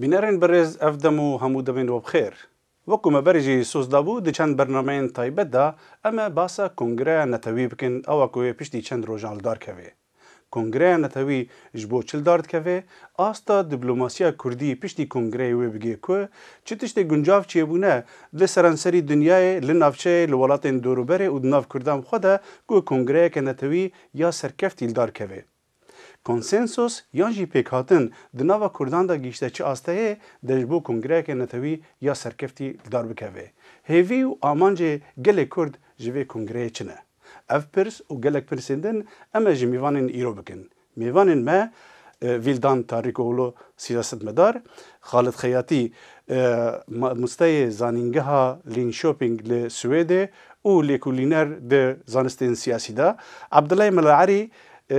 Bînerên birêz ev dem û hemû demên we bi xêr. Wekû me berê jî soz dabû di çend bernameyên taybet de em ê basa Kongreya Netewî bikin awa ku wê piştî çend rojan li dar kevê. Kongreya Netewî ji bo çi li dar dikevê, asta dîplomasiya kurdî piştî kongreyê wê bigê ku çi tiştê guncav çêbûne li seranserî dinyayê, li navçeyê, li welatên dorûberê û di nav kurdan xwe de ku kongreyeke netewî ya serkeftî li dar kevê. Konsensus yan jî pêkhatin di nava Kurdan de gihîşte çi asteyê de ji bo kongreyeke netewî ya serkeftî li dar bikeve? Hêvî û amancê gelê Kurd ji vê kongreyê çi ne? Ev pirs û gelek pirsên din em ê ji mêvanên îro bikin. Mêvanên me Vîldan Tarîkoglû sîyasetmedar, Xalid Xeyatî mamosteyê zanîngeha Linköping li Swêdê û lêkolîner di zanistên siyasî de, Abdulay Melaerî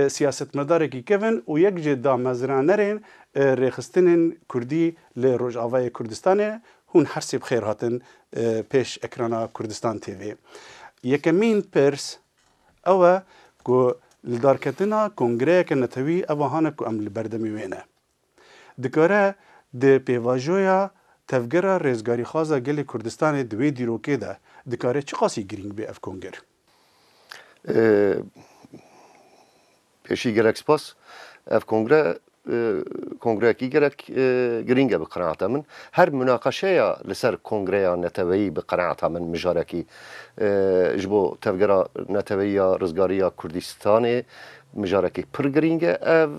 Siyasetmedarekî kevn û yek jê damezranerên rêxistinên Kurdî li Rojavayê Kurdistanê hûn hersê bi xêr hatin pêş ekrana Kurdistan TV. Yekemîn pirs ew e ku li darketina kongreyeke netewî ev a hane ku em li berdemî wê ne. Dikare di pêvajoya Tevgera Rêzgarîxwaza Gelê Kurdistanê di wê dîrokê de dikare çiqasî girîng bê ev konger? Pêşî gelek spas. Ev kongre kongreyekî gelek girîng e bi qenaata min. Her munaqeşeya li ser kongreya neteweyî bi qenaata min mijarekî ji bo tevgera neteweyî ya rizgarî ya Kurdîstanê Mijarekî pir girîng e ev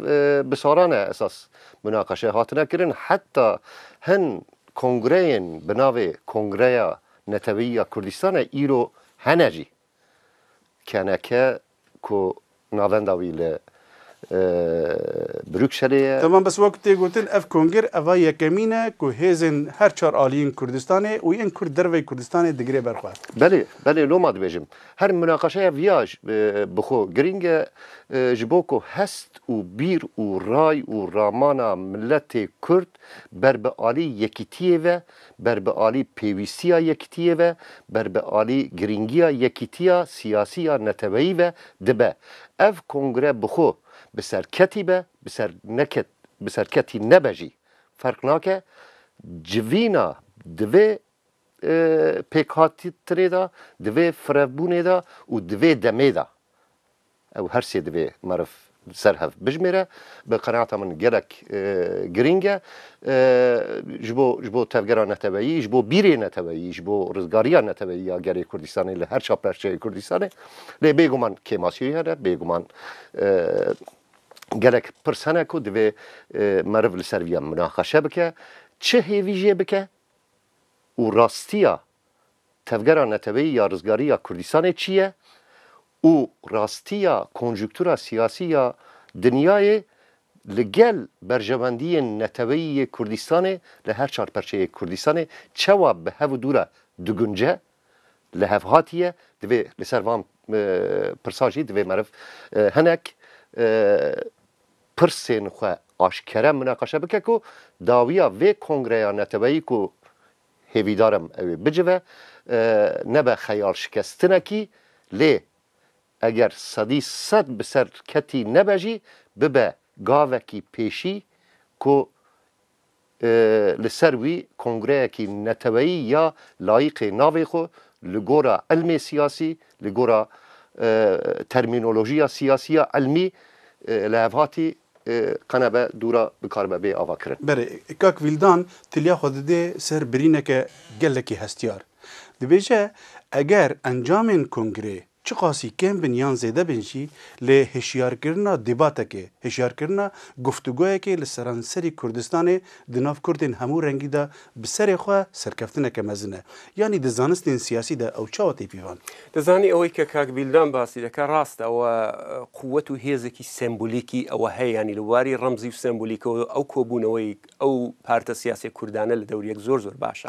bi salan e esas munaqeşe hatine kirin heta hin kongreyên bi navê Kongreya Neteweyî ya Kurdistanê îro hene jî KNK ku navenda wî li Brukselê ye. Temam bes wek tê gotin ev kongir eva yekemîn e ku hêzên her çar aliyên Kurdistanê û yên Kurd derveyî Kurdistanê digire ber xwe. Belê belê loma dibêjim. Her munaqeşeya viya ji bi xwe girîng e ji bo ku hest û bîr û ray û ramana miletê Kurd ber bi alî yekîtiyê ve, ber bi alî pêwîstiya yekîtiyê ve, ber bi alî girîngiya yekîtiya siyasî ya neteweyî ve dibe. Ev kongre bi xwe bi serketî be, bi ser neket bi serketî nebe jî ferq nake, civîna divê pêkhatîtinê de, di vê firevbûnê de û di vê demê de ew her sê divê meriv li ser hev bijimêre. Bi qenaata min gelek girîng e ji bo ji bo tevgera neteweyî, ji bo bîrê neteweyî, ji bo rizgariya neteweyî ya gelê Kurdistanê li her ça perçeyê Kurdistanê. Lê bêguman kêmasîyê hene, bêguman gelek pirs hene ku divê meriv li ser vî ya minaqeşe bike. Çi hêvî jê bike, û rastiya tevgera neteweyî ya rizgarî ya Kurdistanê çi ye û rastiya konjuktura siyasî ya dinyayê li gel berjewendiyên neteweyî yê Kurdistanê li her çar perçeyê Kurdistanê çewa bi hev û dû re digunce lihevhatiye divê li ser van pirsa jî divê meriv hinek pirsên xwe aşkere mineqaşe bike ku dawiya vê kongreya neteweyî ku hêvîdar im ew ê bicive nebe xeyalşikestinekî lê eger sedî sed bi ser ketî nebe jî bibe gavekî pêşî ku Li ser wî kongreyekî neteweyî ya layîqê navê xwe li gora îlmê siyasî, li gora termînolojiya siyasî ya îlmî li hevhatî qenebe dûra bikaribe bê ava kirin. Berê kak Vîldan tiliya xwe didê ser birîneke gelekî hestiyar. Dibêje eger encamên kongreyê Çiqasî kêm bin yan zêde bin jî lê hişyarkirina dîbatekê, hişyarkirina guftugoyekê li seranserî Kurdistanê di nav Kurdên hemû rengî de bi serê xwe serkeftineke mezin e. Yanî di zanistên siyasî de ew çawa tê pîvan? Te zanî eweyî ke kak Bîldan basî dike rast e ew quwet û hêzekî sembolîkî ew heye yanî li warî remzî û sembolîkewe ew kobûneweyî ew parte siyasî kurdane li dewr yek zor zor baş e.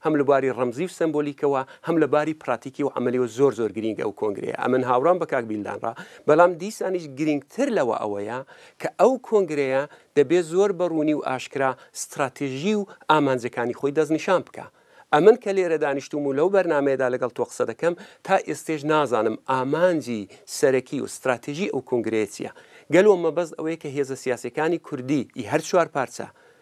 Hem li barî remzî û sembolîke we hem li barî pratîkî û emelî we zor zor girîng e ew kongreye. Em in hawran bi kak Bîldan re, belam dîsanîş girîngtir lewe ewe ye ke ew kongreye debê zor bi rûnî û aşkira stratejî û amancekanî xwî destnîşan bike. Em in ke lêre danîştûm û lew bernameyê de legal to qise dikim, ta êstêj nazanim amancî serekî û stratejî ew kongreye çi ye. Gelo mebest ew ê ke hêza siyasîyekanî kurdî yê her çar parçe,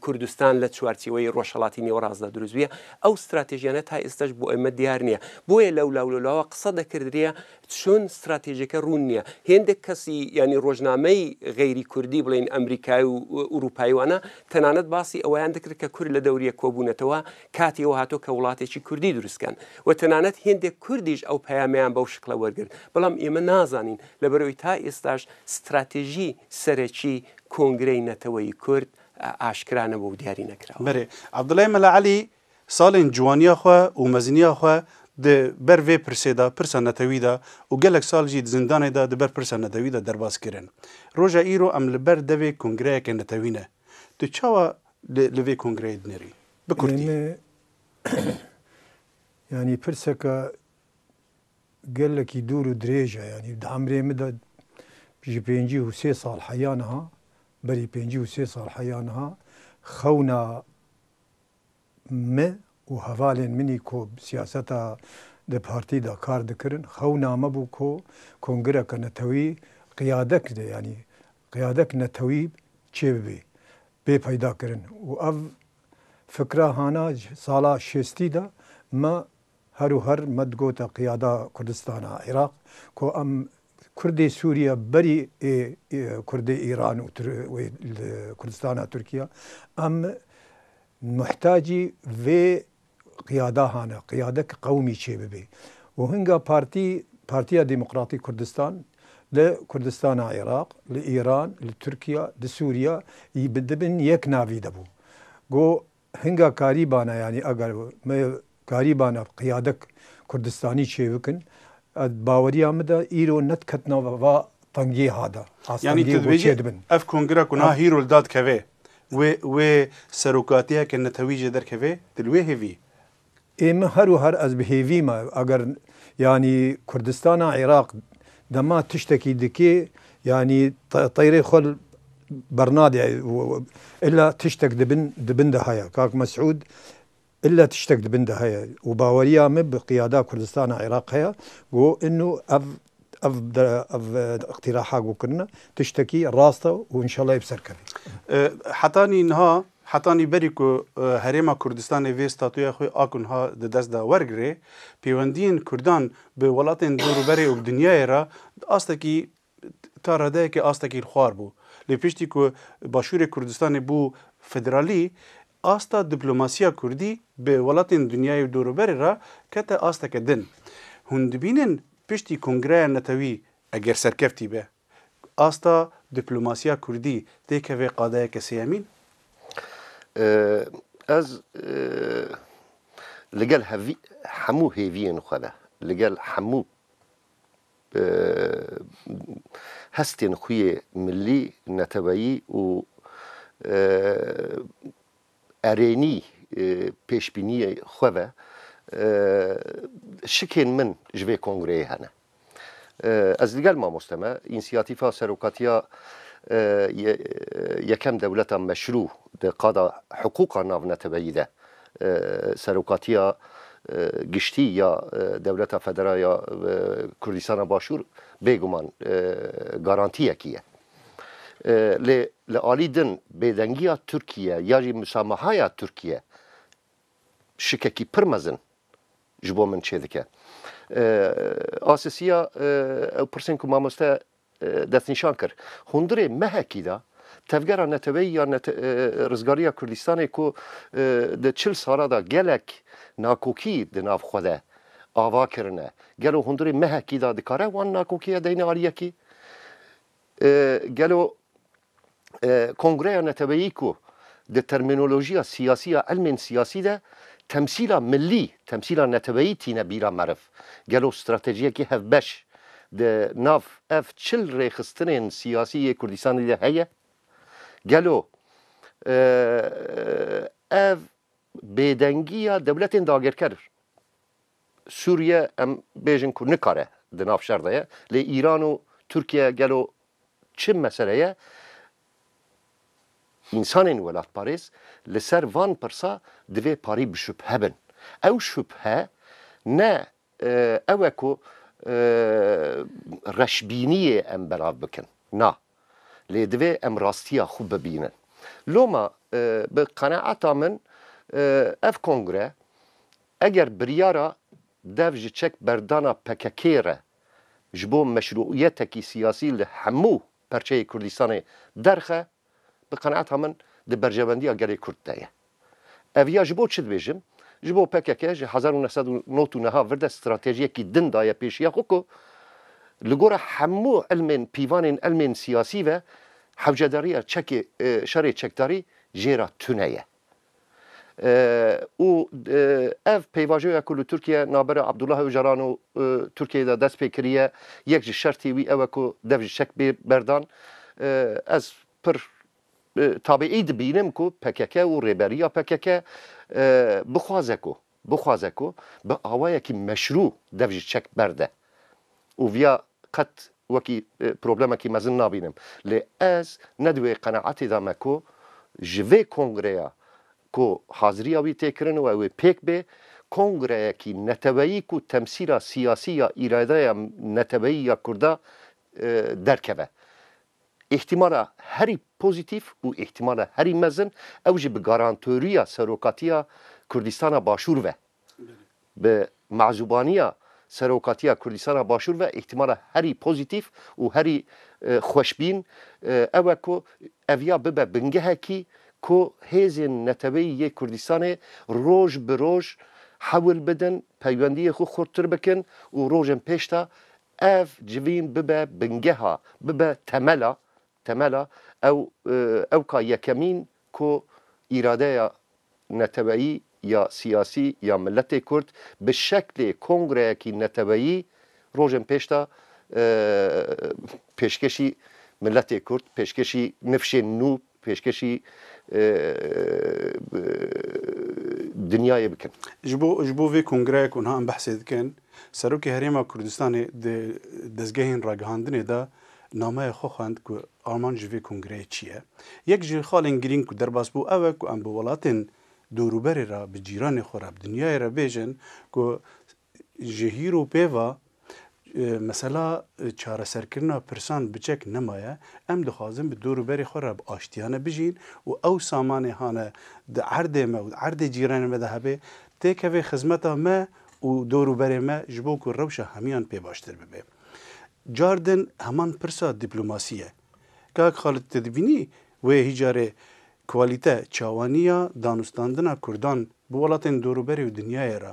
Kurdistan li çarçêweyê Rojhelatî Nêwerast de dirûst bûye. Ew stratejiyane ta êsta ji bo eme diyar niye. Boye lewla û lewlawa qisa dekirdirîye çûn stratejîke rûn niye. Hêndek kesî yanî rojnameyî xeyrî kurdî bileyîn Amerîkayî û Ewropayî wana tenanet basî ewayan dikir ke kurd li dewrî yek kobûnetewe katî ew hato ke wilatêkî kurdî dirûst bikin we tenanet hêndek kurdî ji ew peyameyan bew şikle wergirt. Belam ême nazanîn leberoî ta êstaş Stratejî serekî Kongreyê Neteweyî Kurd a aşkira nebû û diyarî nekirawa. Berê Abdulay Mela Elî salên ciwaniya xwe û meziniya xwe di ber vê pirsê de, pirsa netewî de û gelek sal jî di zindanê de di ber pirsa netewî de derbas kirin. Roja îro em li ber devê kongreyeke netewî ne. Tu çawa li li vê kongreyê dinêrî? Bi kurtî. Eme yanî pirseke Gelekî dûr û dirêj e yanî di emrê min de ji pêncî û sê sal heya niha berî pêncî û sê sal heya niha xewna min û hevalên min î ku bi siyaseta di partî de kar dikirin xewna me bû ku kongireke netewî qiyadek de yanî qiyadek netewî çê bibê bê peydakirin û ev fikra hana sala şêstî de me Her û her me digote qiyada Kurdistana Iraq ku em Kurdê Sûriye berî ê Kurdê Îran û li Kurdistana Tirkiye em muhtacî vê qiyadahan e, qiyadek qewimî çêbibê û hinga partî Partiya Demokratîk Kurdistan li Kurdistana Iraq, li Îran, li Tirkiye, li Sûriye dibin yek navî de bû. Got Hinga karî bana yanî eger me karî bana qiyadek kurdistanî çêbikin ez baweriya min de îro nediketina va tengiha de. Yanî tu dibêjî ev kongira ku niha hîro li dad keve wê wê serokatiyeke netewî jê derkeve tu li wê hêvî Ê min her û her ez bi hêvî me eger yanî Kurdistana Iraq dema tiştekî dikê yanî teyrê xwe bernade illa tiştek di bin di bin de heye kak Mesûd illa tiştek di bin de heye û baweriya min bi qiyada Kurdistana Iraq heye ku inu ev Ev ev îqtîraha ku kirine tiştekî rast e û înşallah ê bi ser keve. Hetanî niha, hetanî berî ku Herêma Kurdistanê vê statuya xwe a ku niha di dest de wergire, pêwendiyên Kurdan bi welatên dûrûberê û bi dinyayê re di astekî ta redeyekê astekî li xwar bû. Lê piştî ku Başûrê Kurdistanê bû federalî, Asta diplomasîya kurdî bi welatên dinyayê û dorûberê re kete asteke din. Hûn dibînin piştî Kongreya Netewî eger serkeftî be, asta diplomasîya kurdî tê keve qadeyeke sêyemîn? Ez li gel hemû hêviyên xwe de, li gel hemû Bi hestên xwe yê milî, neteweyî û erênî pêşbîniyê xwe ve şikên min ji vê kongreyê hene. Ez li gel mamoste me însiyatîfa serokatiya yekem dewleta meşrû di qada hiqûqa navneteweyî de Serokatiya Giştî ya Dewleta Federal ya Kurdîstana Başûr bêguman garantiyekî ye. Lê li alî din bêdengiya Tirkiye ya jî musamahaya Tirkiye şikekî pir mezin ji bo min çêdike. Asisiya ew pirsên ku mamoste destnîşan kir. Hundirê mehekî de Tevgera Neteweyî ya Rizgarî ya Kurdistanê ku di çil sala de gelek nakokî di nav xwe de ava kirine, gelo hundirê mehekî de dikare wan nakokî ya deyne aliyekî? Gelo Kongreya Neteweyî ku di termînolojiya siyasî ya ilmên siyasî de temsîla millî, temsîla neteweyî tîne bîra meriv, gelo stratejiyekî hevbeş di nav ev çil rêxistinên siyasî yê Kurdistanê de heye? Gelo ev bêdengiya dewletên dagirker Sûriye em bêjin ku nikare di nav şer de ye, lê Îran û Tirkiye gelo çi meseleye însanên welatparêz li ser van pirsa divê parî bi şubhe bin. Ew şubhe ne ew e ku reşbîniyê em belav bikin, na, lê divê em rastiya xwe bibînin. Loma bi qeneata min ev kongre Eger biryara dev ji çek berdana PKK'ê re ji bo meşrûiyetekî siyasî li hemû perçeyê Kurdistanê derxe, bi qenaeta min di berjewendiya gelê Kurd de ye. Ev ya ji bo çi dibêjim? Ji bo pkk ji hezar û neh sed û nod û niha vir de stratejiyekî din daye pêşiya xwe ku li gora hemû ilmên pîvanên ilmên siyasî ve hewcedariya çekê şerê çekdarî jê re tune ye. û ev pêvajoya ku li Tirkiye navbera Abdullah Ocalan û Tirkiyeyê de dest pê kiriye, yek ji şertê wî ew e ku dev ji çek bê berdan. Ez pir tabiî dibînim ku pkk û rêberiya pkk bixwaze ku bixwaze ku bi awayekî meşrû dev ji çek berde û viya qet wekî problemekî mezin nabînim. Lê ez ne di wê qenaetê de me ku ji vê kongreya ku haziriya wî tê kirin û ew ê pêk bê, kongreyekî neteweyî ku temsîla siyasî ya îradeya neteweyî ya Kurda derkeve. Îhtîmala herî pozîtîf û îhtîmala herî mezin ew jî bi garantorîya Serokatiya Kurdîstana Başûr ve. Bi mezûbanîya Serokatiya Kurdîstana Başûr ve îhtîmala herî pozîtîf û herî xweşbîn ew e ku ev ya bibe bingehekî ku hêzên neteweyî yê Kurdîstanê roj bi roj hewil bidin peywendîyê xwe xurttir bikin û rojên pêş de Ev civîn bibe bingeha, bibe temela, temela ew ew ka yekemîn ku îradeya neteweyî ya siyasî ya miletê Kurd bi şeklê kongreyekî neteweyî rojên pêş de pêşkêşî miletê Kurd, pêşkêşî nifşên nû pêşkêşî dinyayê bikin. Ji bo ji bo vê kongreya ku niha em behsê dikin, Serokê Herêma Kurdistanê di dezgehên ragihandinê de nameyê xwe xwend ku armanc ji vê kongreyê çi ye. Yek ji xalên girîng ku derbas bû ew e ku em bi welatên dorûberê re, bi cîranê xwe re, bi dinyayê re bêjin ku Ji hîr û pê ve mesela çareserkirina pirsan bi çek nemaye. Em dixwazin bi dor û berê xwe re bi aştiyane bijîn û ew samanê hane di erdê me û di erdê cîranê me de hebe têkeve xizmeta me û dor û berê me ji bo ku rewşa hemiyan pê baştir bibe. Car din heman pirsa dîplomasî ye. Kak Xalid tu dibînî wê hîç carê kwalîte, çawaniya danûstandina kurdan bi welatên dor û berê û dinyayê re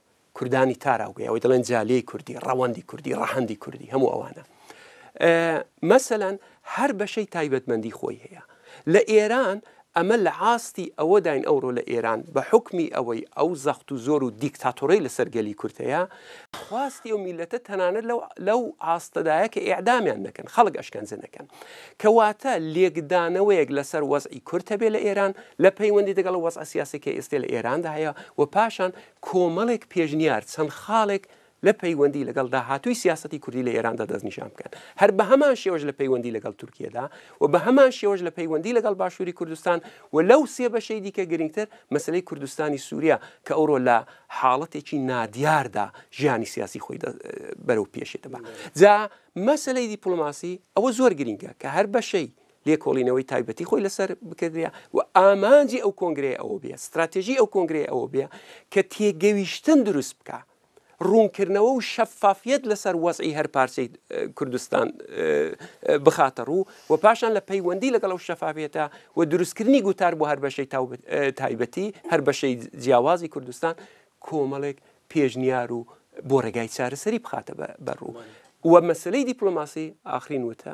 Kurdani tara wê ew dilên caliyê Kurdî, rewandî Kurdî, rehendî Kurdî hemû ewana. Meselen her beşey taybetmendî xwe heye. Li Êran eme li astî ewe dayin ewro li Êran bi hukmî ewey ew zext û zor û dîktatorey li ser gelî Kurd heye, xwastî ew mîlete tenanet lew lew aste daye ke îdamiyan nekin, xelk eşkence nekin. Kewate lêkdaneweyek li ser wez'î Kurd hebe li Êran, li peywendî digel wez'a siyasê ke êstê li Êran de heye û paşan Komelek pêşniyar çend xalek li peywendî ligel dahatûyî siyasetî kurdî li Êran de destnîşan bikin. Her bi heman şêwej li peywendî ligel Tirkiye de û bi heman şêwej li peywendî ligel Başûrî Kurdistan û lew sê beşeyî dîke girîngtir meseleyê Kurdistanî Sûriye ke ewro li haletêkî nadiyar de jiyanî siyasî xwî de berewpêşê dibe. Ca meseleyê dîplomasî ew zor girîng e ke her beşeyî lêkolîneweyî taybetî xwe li ser bikiriya û amancê ew kongreyê ew bûye, stratejî ew kongreyê ew bûye ke têgewîştin dirûst bike, rûnkirnewe û şefafiyet li ser wezî her parçeyî Kurdistan bixate rû û paşan li peywendî li gel ew şefafiyete û dirûstkirinî gotar bo her beşeyî taybetî, her beşeyî ciyawazî Kurdistan komelek pêşniyar û bo regeyî çareserî bixate ber rû. We meseleyî dîplomasî, axirîn wite,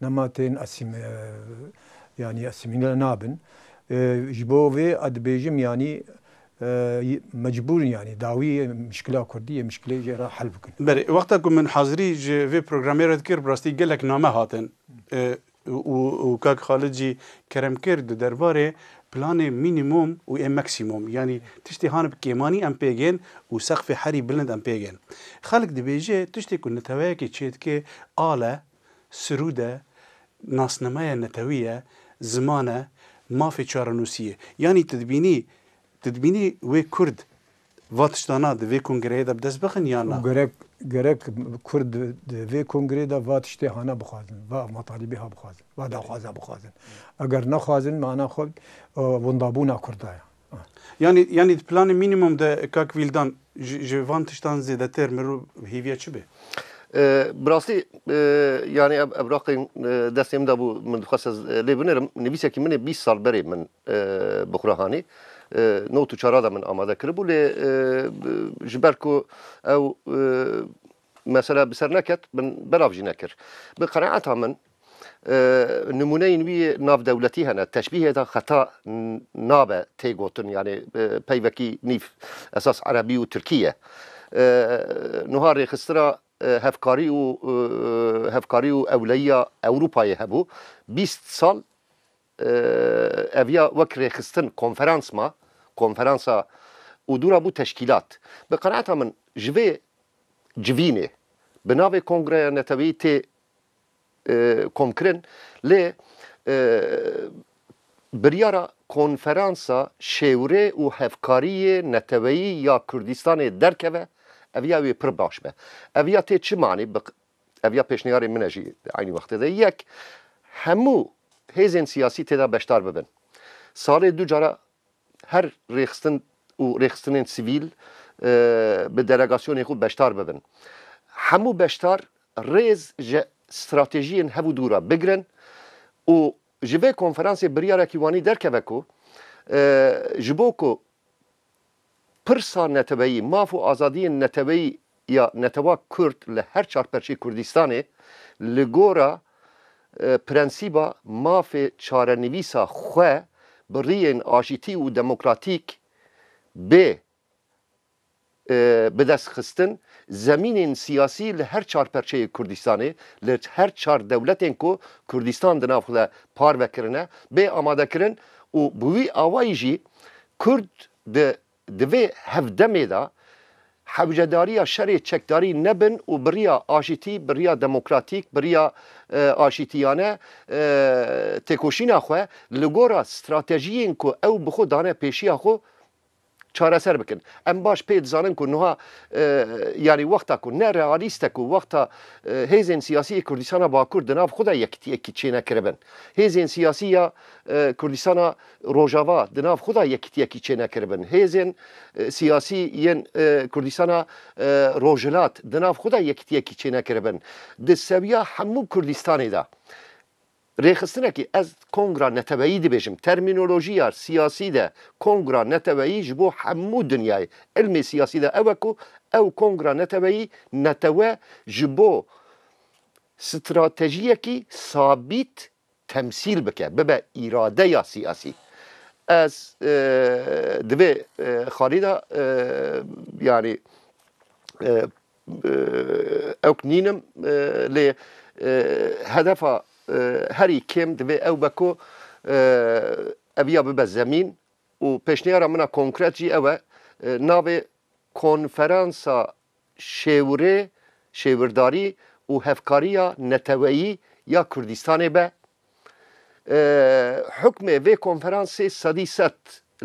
Nematên yanî asîmîle nabin. Ji bo vê a dibêjim yanî mecbûr in yanî dawî mişkila kurdî yê mişkilê jê re hel bikin. Berê wexta ku min hazirî ji vê programê re dikir bi rastî gelek name hatin û kak Xalid jî kerem kir di derbarê planê mînîmom û ê meksîmom yanî tiştê han bi kêmanî em pê gên û seqfê herî bilind em pê gên. Xelk dibêje tiştê ku neteweyekê çêdike al e. Sirûd e, nasnameya netewî ye, ziman e, mafê çarenûsî ye. Yanî tu dibînî tu dibînî wê Kurd va tiştana di vê kongreyê de bi dest bixin yan na? Gerek gerek Kurd di vê kongreyê de va tiştê hane bixwazin, va matalîbê ha bixwazin, va daxwaza bixwazin. Eger nexwazin mana xwe windabûna Kurda ye. Yanî yanî di planê mînîmum de kak Vîldan ji ji van tiştan zêdetir mirov hêviya çi be? Bi rastî yanî ev evraqên destê min de bû min dixwest ez lê binêrim. Nivîsekî min ê bîst sal berê min bi xwe re hanî. Not û çara de min amade kiribû lê ji ber ku ew Mesela bi ser neket, min belav jî nekir. Bi qenaeta min nimûneyên wî yê navdewletî hene. Teşbîhê de xeta nabe tê gotin yanî peyvekî nîv esas erebî û tirkî ye. Nuha rêxistina hevkarî û hevkarî û ewleyiya Ewropayê hebû bîst sal Ev ya wek rêxistin, konferans ma, konferansa û dû ra bû teşkîlat. Bi qenaeta min ji vê civînê bi navê Kongreya Neteweyî tê komkirin lê biryara konferansa şêwirê û hevkariyê neteweyî ya Kurdistanê derkeve ev ya wê pir baş be. Ev ya tê çi manê bi Ev ya pêşniyarê min e jî di eynî wextê de. Yek, hemû hêzên siyasî tê de beşdar bibin. Salê du cara her rêxistin û rêxistinên sivîl bi delegasyonên xwe beşdar bibin. Hemû beşdar rêz ji stratejiyên hev û dû re bigirin û ji vê konferansê biryarekî wanî derkeve ku ji bo ku Pirsa neteweyî, maf û azadiyên neteweyî ya netewa kurd li her çar perçeyê Kurdistanê li gora prensîba mafê çarenivîsa xwe bi riyên aşîtî û demokratîk bê bi dest xistin zemînên siyasî li her çar perçeyê Kurdistanê li her çar dewletên ku Kurdistan di nav xwe de parve kirine bê amadekirin û bi wî awayî jî Kurd di di vê hevdemê de hewcedarîya şerê çekdarî nebin û bi rîya aşîtî, bi rîya demokratîk, bi rîya aşîtîyane têkoşîna xwe li gora stratejîyên ku ew bi xwe dane pêşîya xwe çareser bikin. Em baş pê dizanin ku nuha yanî wexta ku ne realîst e ku wexta hêzên sîyasî yê Kurdîstana Bakur di nav xwe de yekîtîyekî çênekiribin. Hêzên sîyasî ya Kurdîstana Rojava di nav xwe de yekitiyekî çênekiribin. Hêzên siyasî yên Kurdistana Rojhilat di nav xwe de yekitiyekî çênekiribin. Di sewiya hemû Kurdistanê de rêxistinekî, ez kongra neteweyî dibêjim, termînolojiya siyasî de kongra neteweyî ji bo hemû dinyayê îlmê siyasî de ew e ku ew kongra neteweyî netewe ji bo stratejiyekî sabît temsîl bike, bibe îradeya siyasî. Ez di vê xalî de yanî ewk nînim lê hedefa herî kêm divê ew be ku ev ya bibe zemîn û pêşniyara min a konkret jî ew e navê Konferansa şêwirê, şêwirdarî û hevkariya neteweyî ya Kurdistanê be. Hukmê vê konferansê sedî sed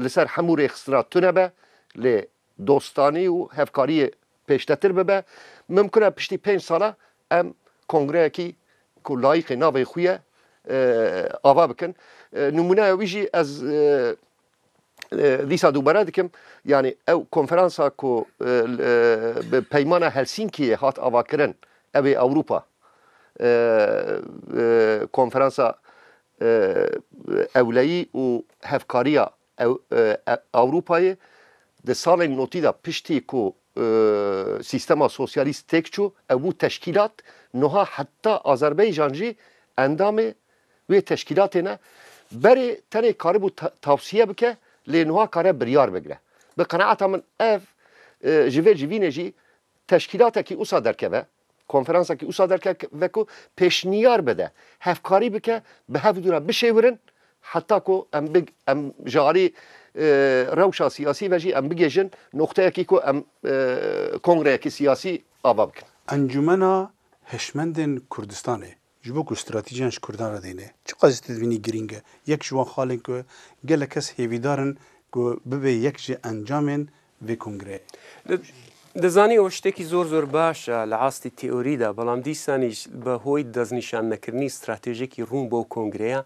li ser hemû rêxistina tune be, lê dostanî û hevkariyê pêştetir bibe. Mimkun e piştî pênc sala em kongreyekî ku layiqê navê xwe ye ava bikin. Nimûneya wî jî ez dîsa dubare dikim yanî ew konferansa ku bi peymana Helsînkiyê hat avakirin ew ê Ewropa konferansa ewleyî û hevkariya Ewropayê di salên notî de piştî ku sîstema sosyalîst têk çû ew bû teşkîlat niha heta Azerbaycan jî endamê wê teşkîlatê ne berê tenê karibû tavsiye bike lê nuha kare biryar bigre. Bi qenaeta min ev ji vê civînê jî teşkîlatekî usa derkeve, konferansakî usa derkeve ku pêşniyar bide, hevkarî bike bi hev dû re bişêwirin heta ku em em ji alî rewşa siyasî ve jî em bigêjin noqteyekî ku em kongreyekî siyasî ava bikin. Encûmena Hişmendên Kurdistanê Ji bo ku stratîjiyan ji Kurdan re deyne, çiqas jî tedbînî girîng e. Yek ji wan xalên ku gelek kes hêvîdar in ku bibe yek ji encamên vê kongreyê. Dizanî ew ştekî zor zor baş e li astî teorî de, belam dîsanî jî bi hoy deznîşannekirinî stratejekî rûn bo kongreyan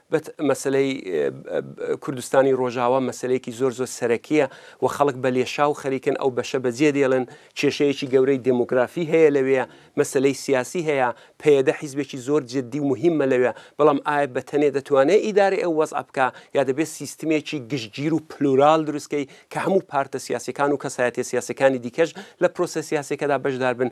Got, Meseleyê Kurdistanî Rojawa meseleyekî zor zor serekî ye û xelk bi lêşaw xerîk in ew beşe bi cê dêlin. Kêşeyekî gewreyî demografî heye li wê. Meseleyê siyasî heye. PYD hîzbekî zor cidî û muhîm e li wê. Belam AYP bi tenê detwane îdarê ew wez'a bike ya dibê sîstemekî giştgîr û plural dirust key ke hemû parte siyasîyekan û kesayetiyê siyasîyekanê dîkeş li prosesiyasêkeda beşdar bin.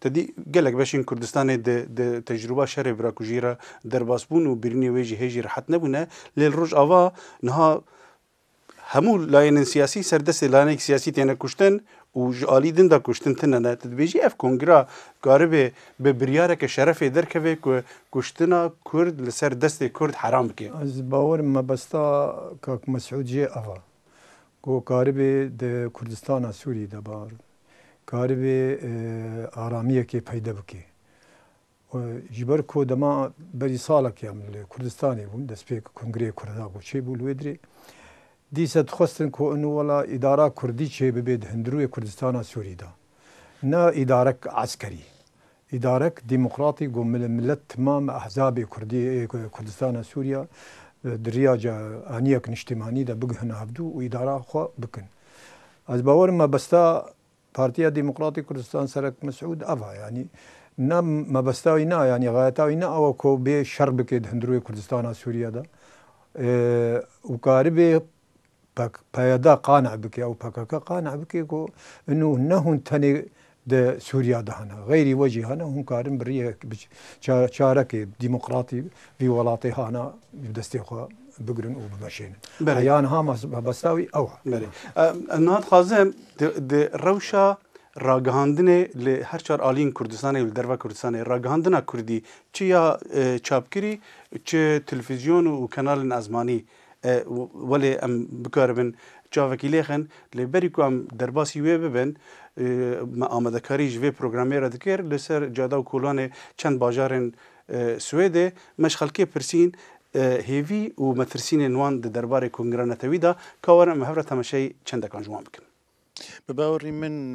Tedî gelek beşên Kurdistanê di di tecrûba şerê birakujî re derbasbûn û birînê wê jî hê jî rehet nebûne lê li Rojava niha hemû layênên siyasî ser destê layenekî siyasî têne kuştin û ji alî din de kuştin tine ne. Tu dibêjî ev kongra karibê bi biryareke şerefê derkeve ku kuştina Kurd li ser destê Kurd heram bike? Ez bawerim mebesta kak Mesûd jê ev e ku karibê di Kurdistana Sûrî de biarin. karibê aramiyekê peyde bike. Ji ber ku dema berî salek em li Kurdistanê bûn, destpêk Kongreyê Kurda ku çêbû li wê dirê, dîsa dixwestin ku inu wela îdara kurdî çêbibe di hundirûyê Kurdistana Sûrî de. Ne îdarek eskerî, Îdarek Demokratî got milê milet timam ehzabê Kurdî ê Kurdistana Sûrîya di rîyaca anîyek niştîmanî de bigihina hevdû û îdara xwe bikin. Ez bawer im mebesta Partîya Demokratî Kurdistan Serek Mesûd ev a yanî ne mebesta wî ne a yanî xayeta wî ne ew a ku bê şer bikê di hundirûyê Kurdistana Sûrîya de û karibê PYD qane bike û pkk qane bike ku ino ne hûn tenê di Sûriya de hene. Xeyrî we jî hene û hûn karin bi riyek bi çarekê demokratî vî welatê hane bi destê xwe bigirin û bimeşênin. Heya niha mebesta wî ew e. Belê. Em niha dixwazin di rewşa ragihandinê li her çar aliyên Kurdistanê û li derve Kurdistanê ragihandina Kurdî çi ya çapkirî çi televîzyon û kenalên ezmanî Welê em bikaribin çavekî lêxin. Lê berî ku em derbasî wê bibin, me amadekarî ji vê programê re dikir li ser cada û kolanê çend bajarên Swêdê. Me ji xelkê pirsîn hêvî û metirsînên wan di derbarê kongira netewî de, ka werin em hev re temeşeyê çendekan ji wan bikin. Bi bawerî min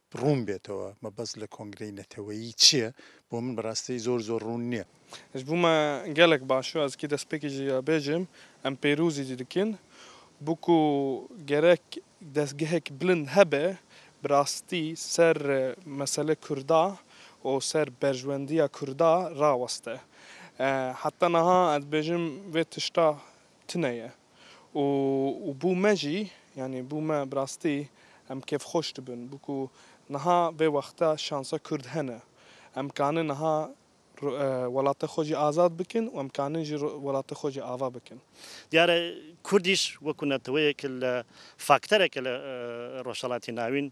Rûn bêtewe mebest li kongreyê neteweyî çi ye bo min bi rastî zor zor rûn niye. Ji bo me gelek baş e. Ez kê destpêkê jî ya bêjim em pêrozî jî dikin. Bo ku gerek destgehek bilind hebe bi rastî ser mesele kurda û ser berjwendiya kurda raweste. Heta niha ez dibêjim vê tişta tune ye û bû me jî yanî bû me bi rastî em kêfxweş dibin bû ku niha vê wexta şansa Kurd hene. Em kanin niha welata xwe jî azad bikin û em kanin jî welata xwe jî ava bikin. Diyar e Kurdîş wekû neteweyeke li faktereke li Rojhelatê Navîn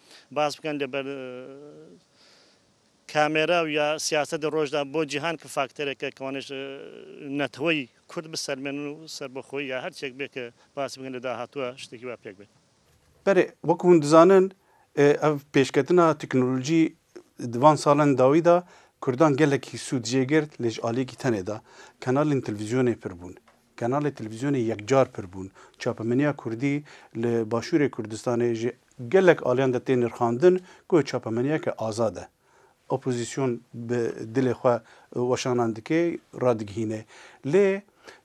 Baz bikin li ber kamera û ya siyasetê roj de bo cîhan ki fakterek e ki wan ji neteweyî kurd bi ser mênin û serbixweyî ya her çêk bê ki baz bikin li dahatuwa ji têkî we pêk be. Berê wek hûn dizanin ev pêşketina teknolojî di van salan dawî de kurdan gelekî sûd jê girt lê ji aliyekî tenê de kanalên televîzyonê pir bûn. Kanalê televîzyonê yekcar pir bûn. Çapemeniya kurdî li Başûrê Kurdistanê ji gelek aliyan de tê nirxandin ku çapemeniyeke azad e. Opozîsyon bi dilê xwe weşanan dike, radigihîne. Lê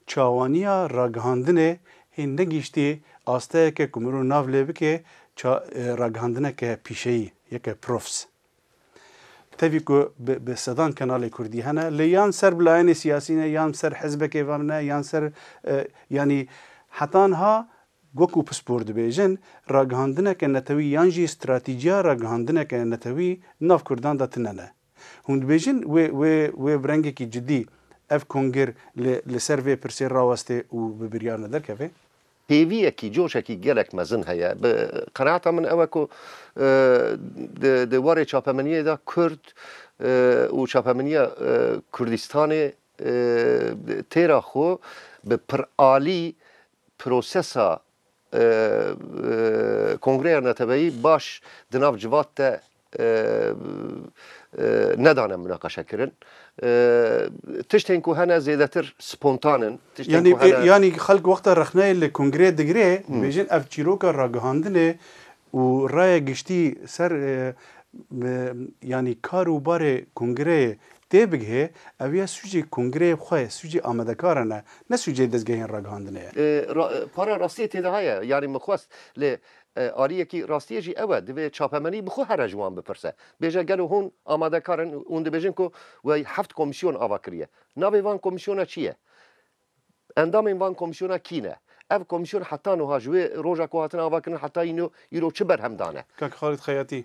çawaniya ragihandinê hê negihîştiye asteyeke ku mirov nav lê bike ragihandineke pîşeyî, yeke profs. Tevî ku bi sedan kenalê kurdî hene lê yan ser bi layenê siyasî ne yan bi ser hizbekê ve ne yan bi ser yanî heta niha wekû pispor dibêjin ragihandineke netewî yan jî stratîciya ragihandineke netewî nav kurdan de tune ne. Hûn dibêjin wê wê wê bi rengekî cidî ev kongir li li ser vê pirsê rawestê û bi biryar ne derkeve? Hêviyekî, coşekî gelek mezin heye. Bi qenaata min ew e ku di warê çapemeniyê de Kurd û çapemeniya Kurdistanê têra xwe bi piralî prosesa Kongreya Neteweyî baş di nav civat de nedane munaqeşekirin. Tiştên ku hene zêdetir spontan in. Yanî yanî xelk wexta rexneyê li kongreyê digire dibêjin ev çîroka ragihandinê û raya giştî ser yanî kar û barê kongreyê tê bigihê ev ya sûcê kongreyê xwe ye, sûcê amedekaran e ne sûcê dezgehên ragihandinê ye. Para rastiyê tê de heye yanî min xwest lê Ariyekî rastiyê jî ew e, divê çapemenî bi xwe here ji wan bipirse, bêje gelo hûn amadekar in û hûn dibêjin ku we heft komîsyon ava kiriye. Navê van komîsyona çi ye? Endamên van komîsyona kî ne? Ev komîsyon heta nuha ji wê roja ku hatine avakirin heta îno îro çi berhem dane? Kak Xalîd Xeyatî,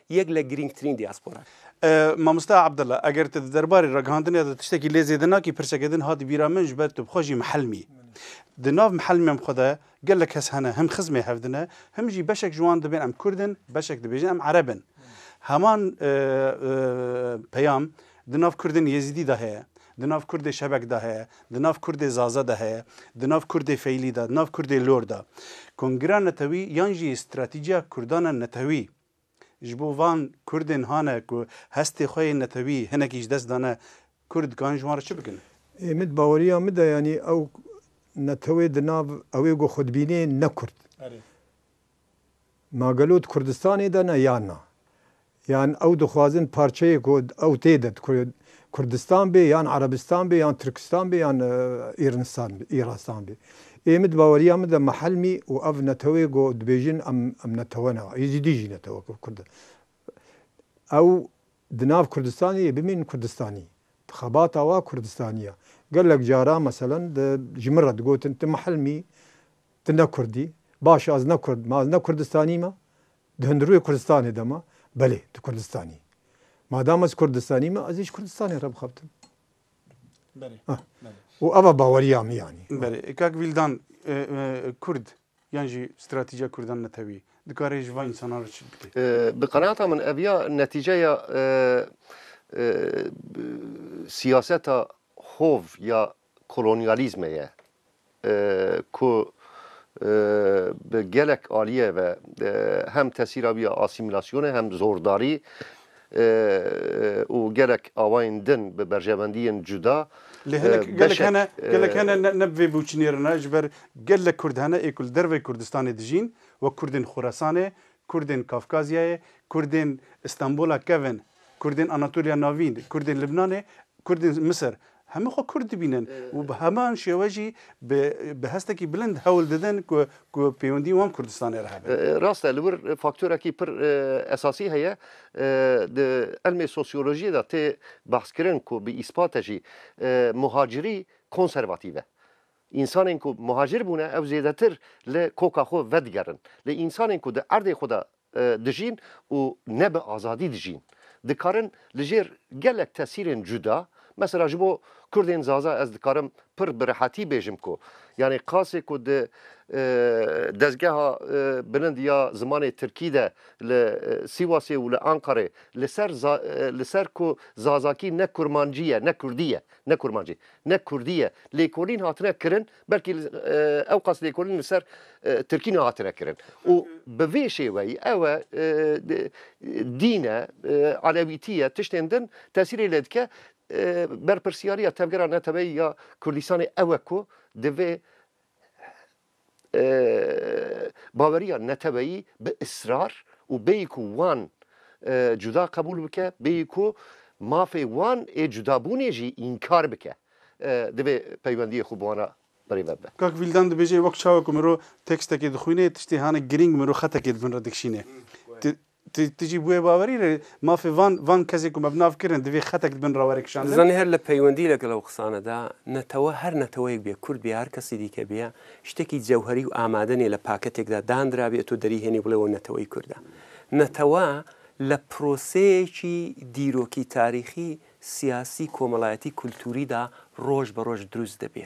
Yek le girîngtirîn diaspora ye. Mamoste Abdullah, eger tu di derbarê ragihandinê de tiştekî lê zêde nakî, pirseke din hat bîra min, ji ber tu bi xwe jî mihelm î. Di nav mihelmên xwe de gelek kes hene, him xizmê hev dine, him jî beşek ji wan dibên em kurd in, beşek dibêjin em ereb in. Heman peyam di nav kurdên yezîdî de heye, di nav kurdê şebek de heye, di nav kurdê zaze de heye, di nav kurdê feylî de, di nav kurdê lor de. Kongira netewî yan jî stratîjiya kurdan e netewî. Ji bo van Kurdên hane ku hestê xwe yên netewî hinekî ji dest dane, Kurd dikarin ji wan re çi bikin? Ê min di baweriya min de yanî ew netewê di nav ew ê ku xwe dibînê ne Kurd. Ma gelo di Kurdistanê de ne yan na? Yan ew dixwazin parçeyê ku ew tê de di Kurdistan bê yan Erebistan bê yan Tirkistan bê yan Îrnistan bê Îrastan bê. Ê min di baweriya min de mihelmî û ev neteweyê ku dibêjin em em netewe ne. Êzîdî jî netewe ku Kurd e. Ew di nav Kurdistanê yê bimînin Kurdistanî. Di xebata wa Kurdistanî ya. Gelek caran meselen di ji min re digotin tu mihelmî, tu ne Kurdî. Baş e ez ne Kurd im, ez ne Kurdistanî me. Di hundirûyê Kurdistanê de ma, belê di Kurdistanî. Madam ez Kurdistanî me, ez ê ji Kurdistanê re bixebtim. Belê, belê. Û ev e baweriya min yanî. Belê. Kak Vîldan, Kurd yan jî stratîjiya Kurdan netewî dikare ji van însanan re çi bike? Bi qenaata min ev ya netîceya siyaseta hov ya kolonyalîzmê ye ku bi gelek aliyê ve hem tesîra wî ya asîmîlasyonê hem zordarî û gelek awayên din bi berjevendiyên cuda Lê hinek gelek beşek hene, gelek hene ne ne bi vê biwçinêre ne ji ber gelek kurd hene ê ku li derveyê Kurdistanê dijîn wek kurdên Xoresanê Kurdên Kafkazyayê, Kurdên Îstanbûla kevn, Kurdên Anatolya Navîn, Kurdên Libnanê, Kurdên Misir, hemû xwe Kurd dibînin û bi heman şêwe jî bi bi hestekî bilind hewl didin ku ku pêwendî wan Kurdistanê re hebe. Rast e, li wir faktorekî pir esasî heye, di ilmê sosyolojiyê de tê behs kirin ku bi îspate jî muhacirî konservatîf e. Însanên ku muhacir bûne ew zêdetir li koka xwe vedigerin. Lê însanên ku di erdê xwe de dijîn û ne bi azadî dijîn, dikarin li jêr gelek tesîrên cuda, mesela ji bo kurdên zaza ez dikarim pir bi rehetî bêjim ku yanê qasê ku di dezgeha bilind ya zimanê tirkî de li Sîwasê û li Anqarê li ser li ser ku zazakî ne kurmancî ye, ne kurdî ye, ne kurmancî. Ne Kurdî ye. Lêkolîn hatine kirin belkî ewqas lêkolîn li ser Tirkî nehatine kirin. Û bi vê şêweyî ew e dîn e, elewîtî ye tiştên din tesîrê lê dike. Berpirsyariya tevgera neteweyî ya Kurdistanê ew e ku divê Baweriya neteweyî bi israr û bêyî ku wan cuda qebûl bike, bêyî ku mafê wan ê cudabûnê jî înkar bike, divê peywendiyê xwe bi wan re birêve bibe. Kak Vîldan dibêje, Wek çawa ku miro tekstekê dixwîne, tiştê hanek girîng miro xetekê di bin re dikişîne. Tu tu jî bûye bawerî re mafê van van kesê ku me bi nav kirin divê xetek di bin re were Tu kişandin. zanî her li peywendî legel ew qisane de netewe her neteweyek bê kurd bê ya her kesî dîke bê ya ştekî cewherî û amade nê li paketek de dandira bê û tu derî hênî bile ew neteweyî kurd e. Netewe li proseyekî dîrokî tarîxî, siyasî, komelayetî, kulturî de roj be roj drûst dibe.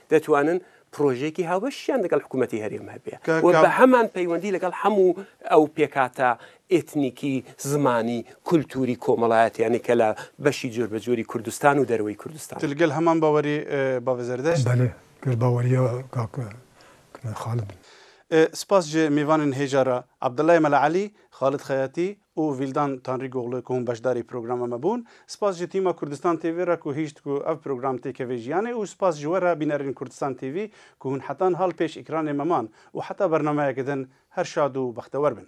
Detwanin projeyekî haweşîyan ligel hikûmetê herêm hebe û bi heman peywendî ligel hemû ew pêkhata etnîkî, zimanî, kultûrî, komelayetî yanî ke li beşî corbecor î Kurdistan û dereweyî Kurdistan e. Tu ligel heman bawerî bavê Zerdeşt? Belê, gel bawerîya kak Xalid in. Spas ji mêvanên hêja re, Abdullah Mela Elî, Xalid Xeyatî û Vîldan Tanrîgoglu ku hûn beşdarî programa me bûn. Spas ji tîma Kurdistan TV re ku hîşt ku ev program têkeve jiyanê û spas ji we re bînerên Kurdistan TV ku hûn heta nihal pêş ekranê me man û heta bernameyeke din her şad û bextewer bin.